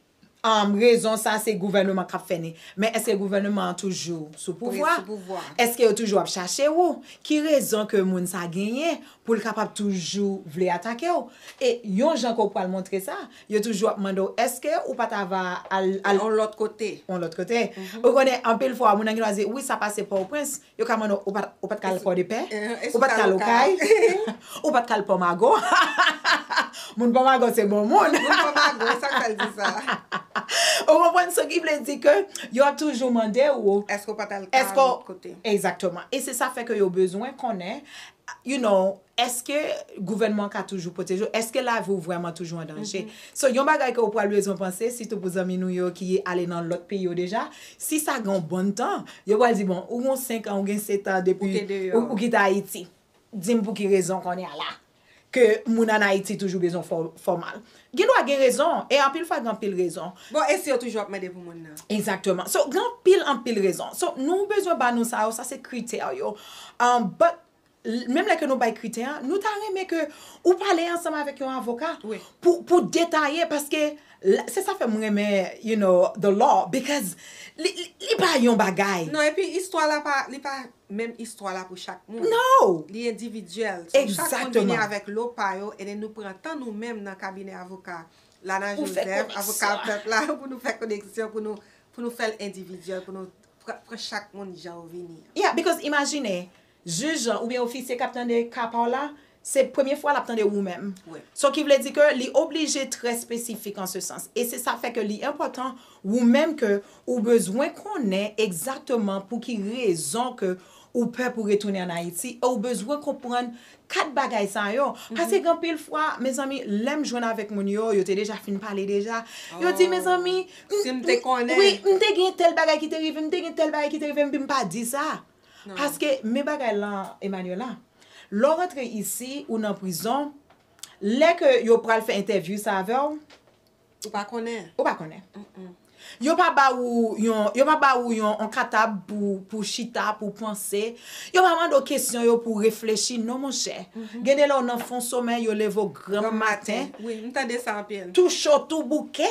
rezon sa se gouvèneman kap fè ni men eske gouvèneman an toujou sou pouvwa eske yo toujou ap chache ou ki rezon ke moun sa genyen poul kapab toujou vle atake ou e yon jan ke ou pwal montre sa yo toujou ap mande ou eske ou pa ta va al yon lòt kote ou konnen anpil fwa moun nan gen dwa di wi sa pase pòtoprens Yo ka mande w, ou pat, ou pat ka al Pòdepè? Ou pat ka al Okay? Ou pat ka al Pòmago? Moun Pòmago se bon moun. Moun Pòmago, sa k fè l di sa? Ou konprann? So ki vle di ke yo ap toujou mande w. Èske w pat al tal kote? Èske w, egzakteman. E se sa fè ke yo bezwen konnen, you know, Eske gouvènman an ka toujou pwoteje w? Eske lavi w vrèman toujou an danje? So, yon bagay ke ou pral bezwen panse, sitou pou zanmi nou yo ki ale nan lòt peyi yo deja, si sa gen yon bon tan, yo pral di, bon, ou gen yon 5 an, ou gen 7 an depi ou kite Ayiti. Di m pou ki rezon kounye a la, ke moun an Ayiti toujou bezwen fè w fè w mal. Gen dwa gen rezon, e anpil fwa gen anpil rezon. Bon, e si yo toujou ap mande pou moun nan? Exactement. So, gen anpil, anpil rezon. So, nou bezwen ba nou sa yo, sa se kritè yo. But, menm lè ke nou bay kritè a, nou ta renmen ke ou pale ansanm avèk yon avoka pou detaye paske se sa fè m renmen you know the law bikòz li pa yon bagay. Non epi istwa la pa li pa menm istwa la pou chak moun. Non! Li endividyèl. So chak moun vini avèk lo pa yo e nen nou pran tan nou menm nan kabinè avoka Lana Joseph, avoka pèp la pou nou fè koneksyon pou nou pou nou fè l endividyèl pou nou Pran chak moun jan yo vini an. Yeah, because imajine, jij lan oubyen ofisye k ap tande ka pa w la, se premye fwa l ap tande ou menm. So ki vle di ke li oblije trè spesifik an se sans. E se sa fè ke li enpòtan ou menm ke ou bezwen konnen egzakteman pou ki rezon ke ou pè pou retounen an Ayiti e ou bezwen konprann 4 bagay sa yo, paske gen anpil fwa mezanmi lèm jwenn avèk moun yo, yo te deja fin pale deja, yo di mezanmi m te konnen wi m te gen tèl bagay ki te rivem, m te gen tèl bagay ki te rivem epi m pa di sa, paske men bagay la Emmanuella, lè w rantre isi ou nan prizon, lè ke yo pral fè entèvyou sa avèw, Ou pa konnen. Ou pa konnen. Yo pa ba ou yon, yo pa ba ou yon on katab pou, pou w chita, pou w panse. Yo pa mande w kesyon yo pou w reflechi non monchè. Gen de lè w nan fon somèy yo leve w granm maten. Wi, m tande sa anpil. Tou cho, tou bouke.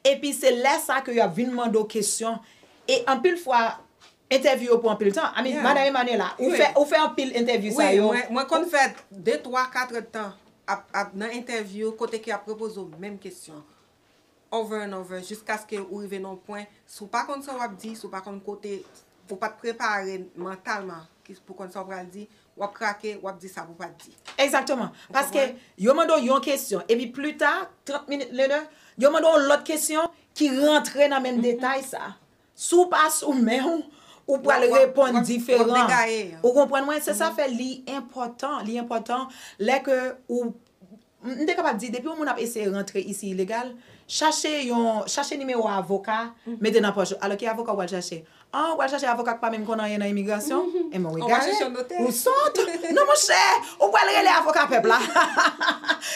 Epi se lè sa ke yo ap vin mande w kesyon. E anpil fwa, Entèvyou yo pran anpil tan. I mean, Madan Emmanuella, ou fè, ou fè anpil entèvyou sa yo. Wi, mwen konn fè de twa, kat èd tan ap, ap nan entèvyou kote ke y ap repoze w menm kesyon over and over jiskaske ou rive nan yon pwen, si w pa konn sa w ap di, si w pa konn kote, ou pa t prepare mantalman pou w konn sa w pral di, w ap krake, w ap di sa pou w pa t di. Egzakteman. Paske yo mande w yon kesyon, epi plita, 30 minutes later, yo mande w yon lòt kesyon ki rantre nan menm detay sa. Si w pa sou men w, ou pral reponn diferan. Ou konprann mwen? Se sa fè li enpòtan, li enpòtan lè ke ou, m te kapab di depi yon moun ap eseye rantre isi ilegal, chache yon, chache nimewo avoka, mete nan pòch ou. Alò ki avoka ou pral chache? An, ou pral chache avoka ki pa menm konn anyen nan imigrasyon? Enben ou egare, ou sòt. Non monchè, ou pral rele avoka pèp la.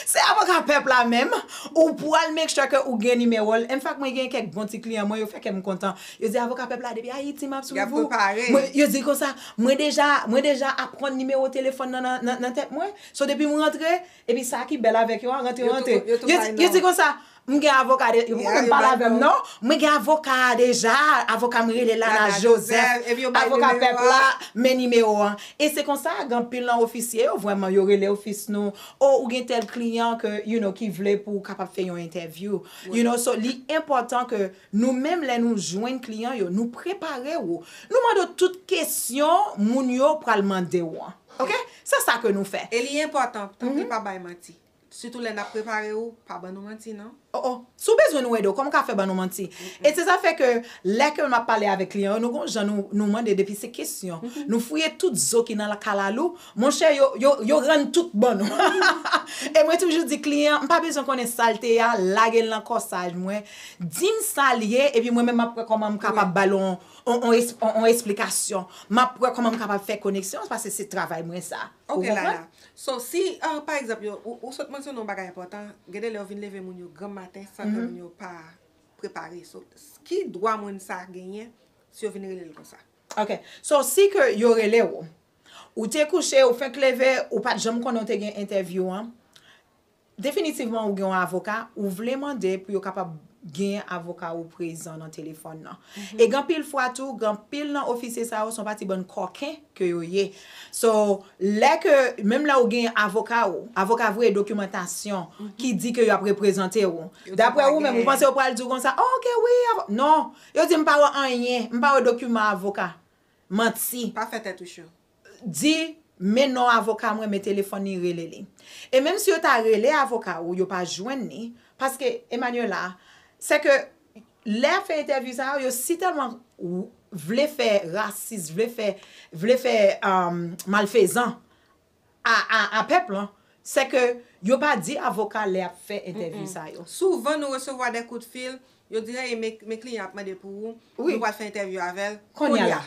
Se avoka pèp la menm, Ou pwal make sure ke ou gen nimewo l. Enfak mwen gen kèk bon ti kliyan mwen yo fè kè m kontan. Yo di avoka pèp la depi Ayiti map swiv ou. Mwen yo di konsa mwen deja mwen deja aprann nimewo telefòn nan nan tèt mwen. So depi m rantre epi sa ki bèl avèk yo a rantre yo rantre. Yo di konsa m gen avoka deja yo poko menm pale avè m non. Mwen gen avoka a deja avoka m rele Lala Joseph avoka pèp la men nimewo an. E se konsa gen anpil nan ofisye yo vrèman yo rele ofis nou Oh ou gen tel kliyan ke you know ki vle pou ou kapab fè yon entèvyou you know so li enpòtan ke nou menm lè nou jwenn kliyan yo nou prepare ou nou mande ou tout kesyon moun yo pral mande ou an ok se sa ke nou fè. E li enpòtan tanpri pa bay manti sitou lè nap prepare ou pa ban nou manti non. Oh oh Si w bezwen nou ede w kòman w ka fè ban nou manti E se sa fè ke lè ke map pale avèk kliyan yo nou gon jan nou nou mande depi se kesyon nou fouye tout zo ki nan kalalou monchè yo yo yo rann tout ban nou ha ha ha E mwen toujou di kliyan m pa bezwen konnen sa l te ya lage l nan kòsaj mwen di m sa l ye epi mwen menm map wè kòman m kapab ba l on on esplikasyon map wè kòman m kapab fè koneksyon paske se travay mwen sa. Ok lala so si pa egzanp ou sot mansyone yon bagay enpòtan gen de lè yo vin leve moun yo granm maten san ke moun yo pa prepare so ki dwa moun sa genyen si yo vin rele l konsa. Ok so si ke yo rele w ou te kouche ou fenk leve ou pat janm konnen w te gen entèvyou an Definitivman ou gen yon avoka, ou vle mande pou yo kapab genyen avoka ou prezan nan telefòn nan. E gen anpil fwa tou, gen anpil nan ofisye sa yo se yon pati bann kòken ke yo ye. So, lè ke, menm lè ou genyen avoka ou, avoka a voye dokimantasyon ki di ke yo ap reprezante ou, daprè ou menm, ou panse yo pral di ou konsa, oh ok wi, avo. Non! Yo di m pa wè anyen, m pa wè dokiman avoka. Manti! Pa fè tèt ou cho. di men non avoka mwen men telefòn li rele li e menm si yo ta rele avoka ou yo pa jwenn li paske Emmanuella sè ke lè yap fè entèvyou sa yo yo si tèlman vle fè rasis vle fè vle fè malfezan a pèp lan sè ke yo pa di avoka lè yap fè entèvyou sa yo. Souvan nou resevwa dè kout fil yo di hey men kliyan ap mande pou ou nou pral fè entèvyou avèl kounya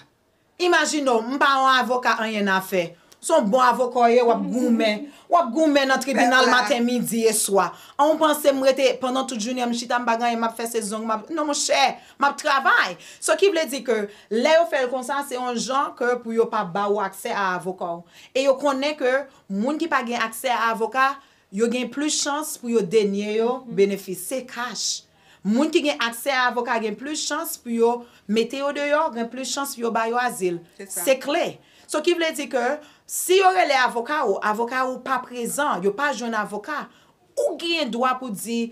Imajine w, m pa yon avoka anyennafè, s on bon avoka w ye, w ap goumen, w ap goumen nan tribinal maten, midi e swa. An ou panse m rete pandan tout jounen an m chita m pa gen anyen m ap fè se zong m ap, non monchè, m ap travay. Sò ki vle di ke lè yo fè l konsa se yon jan ke pou yo pa ba ou aksè a avoka w. E yo konnen ke moun ki pa gen aksè a avoka, Yo gen plis chans pou yo denye yo benefis. Se kach. Moun ki gen aksè a avoka gen plis chans pou yo mete yo deyò, gen plis chans pou yo ba yo azil. Se kle. So ki vle di ke si yo rele avoka ou, avoka ou pa prezan, yo pa jwenn avoka, ou gen dwa pou di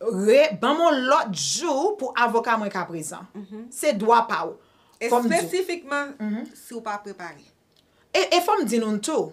re, ban mwen yon lòt jou pou avoka mwen ka prezan. Se dwa pa ou. Espesifikman si ou pa prepare. E fò m di nou tou,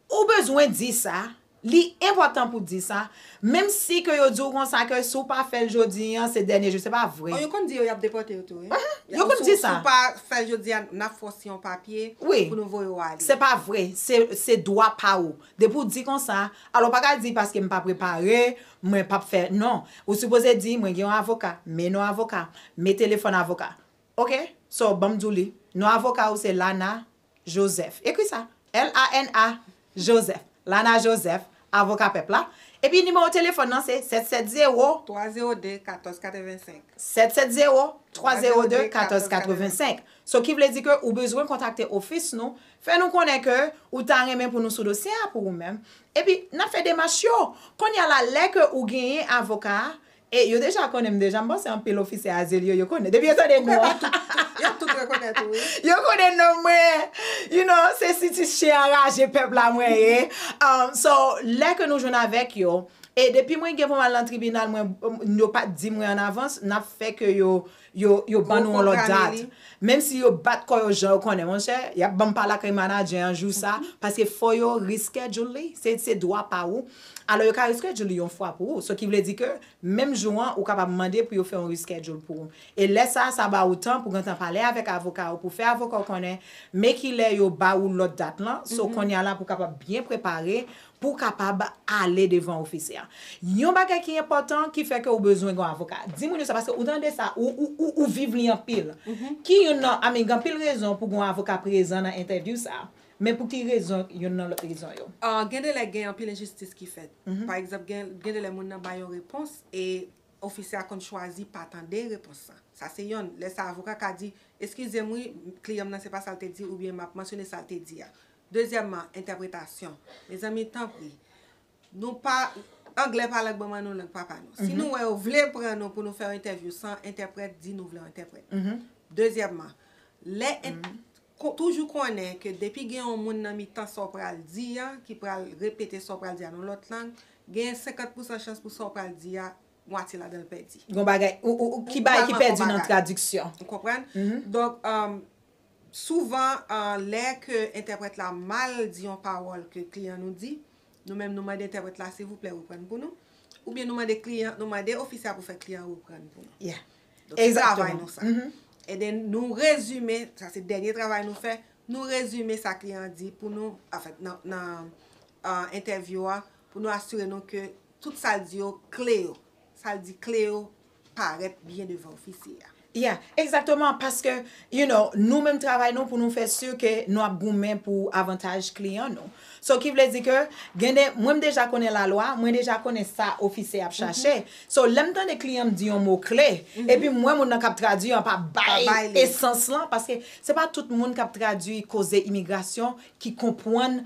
Ou bezwen di sa, li enpòtan pou di sa, menm si ke yo di w konsa ke si w pa fè l jodi an, se dènye jou, se pa vre. Oh yo konn di yo yap depòte yo tou wi. Uh-huh, yo konn di sa. Si w pa fè l jodi an, nap fè w siyen yon papye Oui, pou nou voye w ale. se pa vre, se, se dwa pa ou. Depi w di konsa, alò w pa ka di paske m pa prepare, mwen pap fè, non. Ou sipoze di mwen gen yon avoka, men non avoka, men telefòn avoka. Ok, so banm di w li, non avoka ou se Lana Joseph. Ekri sa, LANA joseph. Lana Joseph, Avoka Pèp la. Epi nimewo telefòn nan se 770. 302 14 85. 770 302 14 85. So ki vle di ke ou bezwen kontakte ofis nou, fè nou konnen ke ou ta renmen pou nou sou dosye a pou ou menm, epi n ap fè demach yo. Kounye a la, lè ke ou genyen avoka a, E yo deja konnen m deja, m panse anpil ofisè azil yo, yo konnen, depi yo tande non an, Yo ap tout rekonèt ou wi. yo konnen non mwen, you know, se sitis chen an raje pèp la mwen ye, so lè ke nou jwenn avèk yo, e depi mwen gen pou m al nan tribinal mwen, yo pa t di mwen an avans, n ap fè ke yo Yo yo ban nou on lòt dat. Menm si yo bat kò yo jan yo konnen monchè, yap banm pale ak manadjè an jou sa, paske fò yo reschedule li, se se dwa pa ou. Alò yo ka reschedule li yon fwa pou ou. So ki vle di ke menm jou an ou kapab mande pou yo fè yon reschedule pou ou. E lè sa sa ba ou tan pou gentan pale avèk avoka ou pou fè avoka ou konnen men ki lè yo ba ou lòt dat lan. So konya la pou kapab byen prepare pou w kapab ale devan ofisè a. Yon bagay ki enpòtan ki fè ke ou bezwen gen yon avoka. Di moun yo sa paske ou tande sa, ou viv li anpil. Ki youn nan, I mean, gen anpil rezon pou gen yon avoka prezan nan entèvyou sa a. Men pou ki rezon youn nan lòt rezon yo? Gen de lè gen anpil enjistis ki fèt. Pa egzanp, gen de lè moun nan bay yon repons e ofisè a konn chwazi pa tande repons la. Sa se yonn. Lè sa a avoka ka di, Eskize m wi, kliyan m nan se pa sa l te di oubyen m ap mansyone sa l te di a. Dezyèmman, entèpretasyon. Mezanmi, tanpri, nou pa, anglè pa lang manman nou, lang papa nou. Si nou wè yo vle pran nou pou nou fè yon entèvyou san entèprèt, di nou vle yon entèprèt. Dezyèmman, lè, toujou konnen ke depi gen yon moun nan mitan sa w pral di a, ki pral repete sa w pral di a nan yon lòt lang, genyen 50 pousan chans pou sa w pral di a, mwatye ladan l pèdi. Gon bagay, ou, ou, ou, ki bagay ki pèdi nan tradiksyon. Ou konprann? Donk, Souvan, lè ke entèprèt la mal di yon pawòl ke kliyan nou di, nou menm nou mande entèprèt la silvouplè reprann pou nou, oubyen nou mande kliyan, nou mande ofisè a pou fè kliyan reprann pou nou. Yeah. Donk se travay nou sa. E den nou rezime, sa se dènye travay nou fè, nou rezime sa kliyan an di pou nou, anfen nan entèvyou a, pou nou asire nou ke Tout sa l di yo kle yo. Sa l di kle yo parèt byen devan ofisye a. Yeah, exactement, paske you know, nou menm travay nou pou nou fè sur ke nou ap goumen pou avantaj kliyan nou. So ki vle di ke gen de, mwen m deja konnen la lwa, mwen deja konnen sa ofisye ap chache. So lè m tande kliyan m di yon mo kle, epi m wè moun nan k ap tradui an pa bay esans lan, paske se pa tout moun k ap tradui koze imigrasyon ki konpwann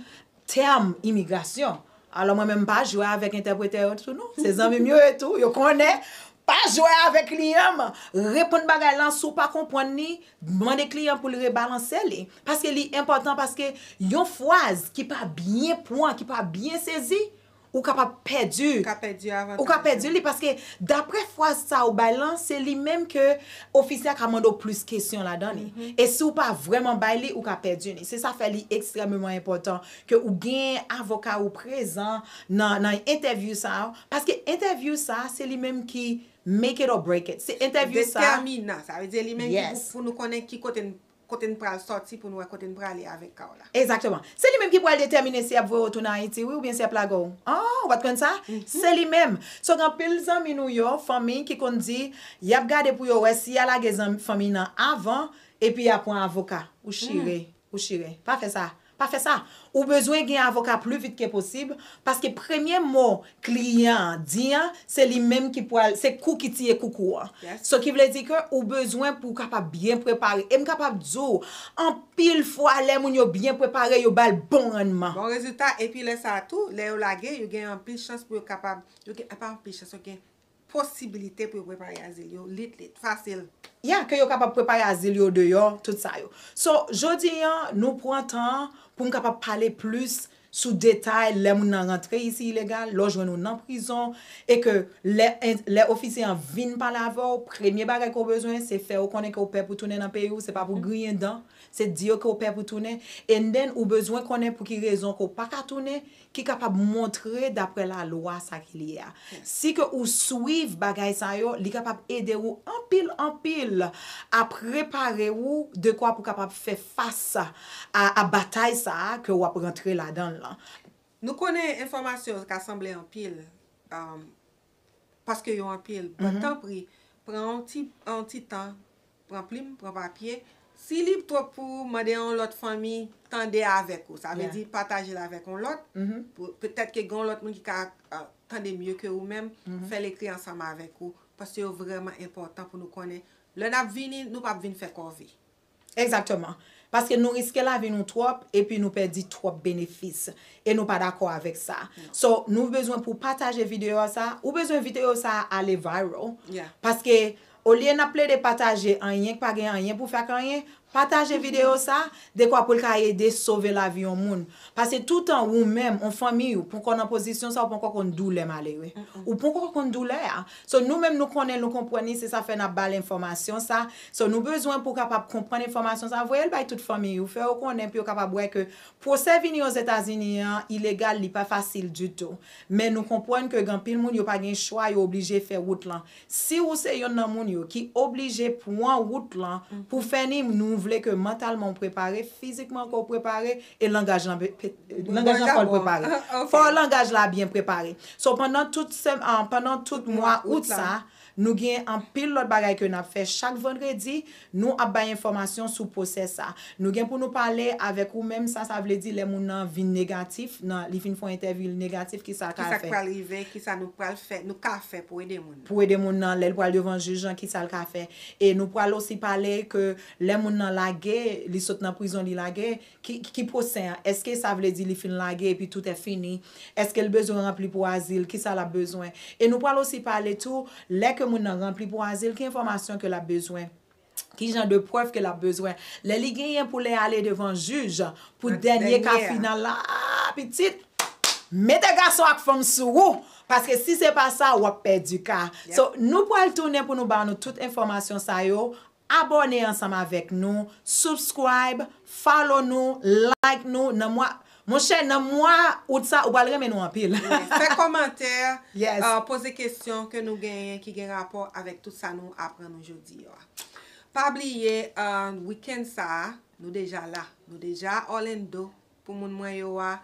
tèm imigrasyon. Alò mwen menm m pa jwe avèk entèpretè yo tou non. Se zanmi m yo ye tou, yo konnen. Pa jwe avèk kliyan m. Reponn bagay lan, si w pa konprann li, mande kliyan pou l rebalanse li. Paske li enpòtan, paske yon fraz ki pa byen pran, ki pa byen sezi, Ou kapab pèdi. Ou ka pèdi avantaj yo. Ou ka pèdi li paske daprè fraz sa ou bay lan se li menm ke ofisè a ka mande w plis kesyon ladan li. E si ou pa vrèman bay li ou ka pèdi li. Se sa fè li ekstrèmeman enpòtan ke ou gen avoka ou prezan nan entèvyou sa a. Paske entèvyou sa a se li menm ki make it or break it. Se entèvyou sa a. Detèminan. Sa vle di li menm ki pou nou konnen ki kote Kote n pral sòti pou n wè kote n prale avèk ka w la. Egzakteman. Se li menm ki pral detèmine si y ap voye w tounen Ayiti wi oubyen si y ap lage w. An, ou pa t konn sa? Se li menm. So gen anpil zanmi nou yo, fanmi ki konn di y ap gade pou yo wè si y a lage zanmi, fanmi nan avan epi y a pran avoka. Ou chire. Ou chire. Pa fè sa. Pa fè sa! Ou bezwen gen avoka pli vit ke posib, paske premye mo kliyan an di an, se li menm ki pwal, se kou ki tiye koukou an. So ki vle di ke ou bezwen pou w kapab byen prepare. E m kapab di w, anpil fwa lè moun yo byen prepare, yo ba l bon rannman. Bon rezilta, epi lè sa a tou, lè yo lage, yo gen anpil chans pou yo kapab, yo gen, pa anpil chans, yo gen posibilite pou yo prepare azil yo lit lit, fasil. Yeah, ke yo kapab prepare azil yo deyò, tout sa yo. So, jodi an, nou pran tan an pou m kapab pale plis sou detay lè moun nan rantre isi ilegal, lè w jwenn ou nan prizon, e ke lè lè ofisye an vin pale avè w, premye bagay ke w bezwen, se fè yo konnen ke w pè pou tounen nan peyi w, se pa pou griyen dan, se di yo ke w pè pou tounen, and then ou bezwen konnen pou ki rezon ke w pa ka tounen, Ki kapab montre dapre lalwa sa ki li a. Si ke ou swiv bagay sa yo, li kapab ede ou anpil anpil a prepare ou dekwa pou kapab fè fas a batay sa a ke ou ap rantre ladan l lan. Nou konnen enfòmasyon ka sanble anpil. Paske yo anpil but tanpri pran yon ti yon ti tan pran plim pran papye si li twop pou ou mande yon lot fanmi tande avek ou sa vle di patajel avek yon lot petet ke gen yon lot moun ki ka tande mye ke ou menm fel ekri ansanm avek ou paske yo vreman enpotan pou nou konnen le nap vini nou pap vin fe kòve. Egzakteman. Paske nou riske lavi nou twòp epi nou pèdi twòp benefis. E nou pa dakò avèk sa. So, nou bezwen pou w pataje videyo sa a. Ou bezwen videyo sa a ale viral. Paske, olye n ap plede pataje anyen k pa gen anyen pou fè ak anyen, pataje videyo sa a, dekwa pou l ka ede sove lavi yon moun. Pase toutan wou menm, on fanmiy ou, ponkò nan pozisyon sa a, ou ponkò konn doulè malere. Ou ponkò konn doulè a. So, nou menm nou konnen l, nou konprann li, se sa fè n ap ba l enfòmasyon sa a. So nou bezwen pou w kapab konprann enfòmasyon sa, voye l bay tout fanmiy ou, fè yo konnen pou yo kapab wè ke pwosè vini Ozetazini an ilegal, li pa fasil ditou. Men nou konpwann ke gen anpil moun yo pa gen chwa yo oblije fè wout lan. Si ou se yonn nan moun yo ki oblije pwan wout lan pou fè ni nou vle ke mantalman ou prepare, fizikman ke w prepare e langaj lan langaj lan fò l prepare. Fò langaj la byen prepare. So pandan tout pandan tout mwa out sa, Nou gen anpil lòt bagay ke nap fè chak vandredi, nou ap bay enfòmasyon sou pwosè sa. Nou gen pou nou pale avèk ou menm sa sa vle di lè moun nan vin negatif, nan li fin fon entèvyou li negatif kisa ka fè. Kisa k pral rive, kisa nou pral fè, nou ka fè pou ede moun nan. Pou ede moun nan lèl pral devan jij lan kisa l ka fè. E nou pral osi pale ke lè moun nan lage, li sot nan prizon li lage, Ki pwosen an? Èske sa vle di li fin lage epi tout è fini? Èske l bezwen ranpli pou azil? Ki sa l ap bezwen? E nou pral osi pale tou, lè ke moun nan ranpli pou azil, ki enfòmasyon ke l ap bezwen? Ki jan de prèv ke l ap bezwen? Lè li genyen pou lè ale devan jij, pou dènye ka final la, aa pitit! Mete gason ak fanm sou ou! Paske si se pa sa, w ap pèdi ka. So, nou pral tounen pou nou ba nou tout enfòmasyon sa yo Abòne ansanm avèk nou, subscribe, follow nou, like nou nan mwa Monchè nan mwa Out sa ou pral renmen nou anpil. Fè kòmantè, poze kesyon ke nou genyen ki gen rapò avèk tout sa nou aprann ou jodi yo a. Pa bliye weekend sa a nou deja la, nou deja Orlando Pou moun mwen yo a.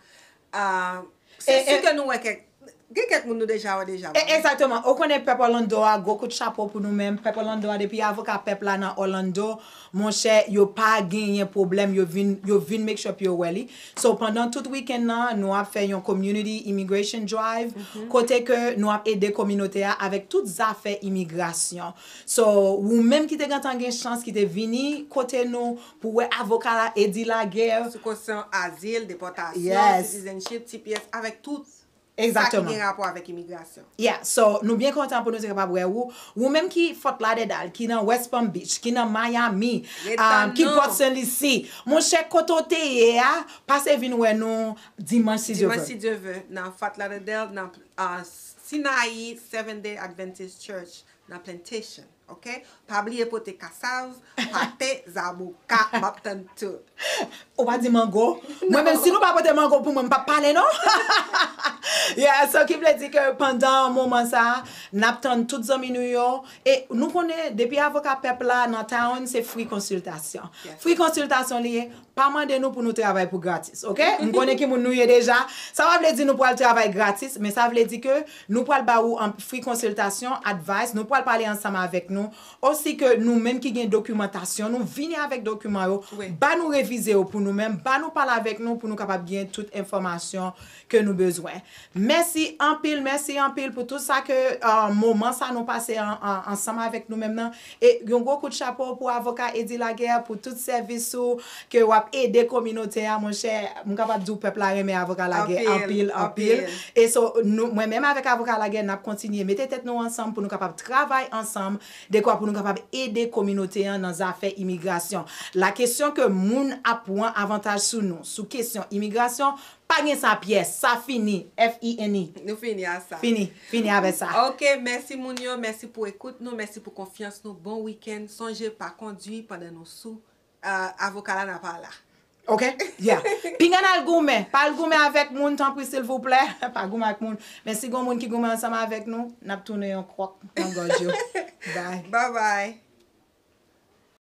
Se si ke nou wè kèk. Gen kèk moun nou deja wè deja. Exactement. Ou konnen pèp Orlando a, gwo kout chapo pou nou menm. Pèp Orlando a depi avoka pèp la nan Orlando, monchè, yo pa genyen pwoblèm, yo vin yo vin make sure pou yo wè li. So pandan tout weekend nan, nou ap fè yon community immigration drive kote ke nou ap ede kominote a avèk tout zafè imigrasyon. So, ou menm ki te gentan gen chans ki te vini kote nou, Pou wè avoka la Eddy Laguerre. Sou kosyon azil, depòtasyon, citizenship, tps, avèk tout sa ki gen rapò avèk imigrasyon. Yeah, so nou byen kontan pou nou te kapab wè ou. Ou menm ki Fort Lauderdale, ki nan West Palm Beach, ki nan Miami, ki Port St. Lucie, monchè kote w te ye a, pase vin wè nou dimanch si Dye vle. Dimanch si Dye vle, nan Fort Lauderdale, nan Sinaï Seventh Day Adventist Church nan Plantation. ok pa bliye pote kasav pate zaboka map tann tout. Ou pa di mango? Mwen menm si nou pa pote mango pou mwen m pap pale non yeah so ki vle di ke pandan moman sa nap tann tout zanmi nou yo e nou konnen depi avoka pèp la nan town se free konsiltasyon free konsiltasyon li ye Pa mande nou pou nou travay pou gratis ok m konnen ki moun nou ye deja sa pa vle di nou pral travay gratis men sa vle di ke nou pral ba ou anp free konsiltasyon advice nou pral pale ansanm avèk nou osi ke nou menm ki gen dokimantasyon nou vini avèk dokiman yo ba nou revize yo pou nou menm ba nou pale avèk nou pou nou kapab gen tout enfòmasyon ke nou bezwen. Mèsi anpil, mèsi anpil pou tout sa ke moman sa nou pase ansanm avèk nou menm nan. E yon gwo kout chapo pou avoka Eddy Laguerre pou tout sèvis ou ke wap ede kominote a monchè. M kapab di w pèp la renmen avoka Laguerre anpil, anpil. E so nou mwen menm avèk avoka Laguerre nap kontinye mete tèt nou ansanm pou nou kapab travay ansanm dekwa pou nou kapab ede kominote an nan zafè imigrasyon. La kesyon ke moun ap pwan avantaj sou nou sou kesyon imigrasyon Pa gen sa pyès, sa fini, F-I-N-I. Nou fini a sa. Fini, fini avè sa. Ok, mèsi moun yo, mèsi pou ekout nou, mèsi pou konfyans nou, bon weekend, sonje pa kondwi pandan nou sou, avoka la nan pa la. Ok, yeah. Pinga nal goumen, pa al goumen avèk moun tanpri silvouplè, pa goumen ak moun, men si gon moun ki goumen ansanm avèk nou, nap tounen yon kròk nan gòj yo. Bye. Bye bye.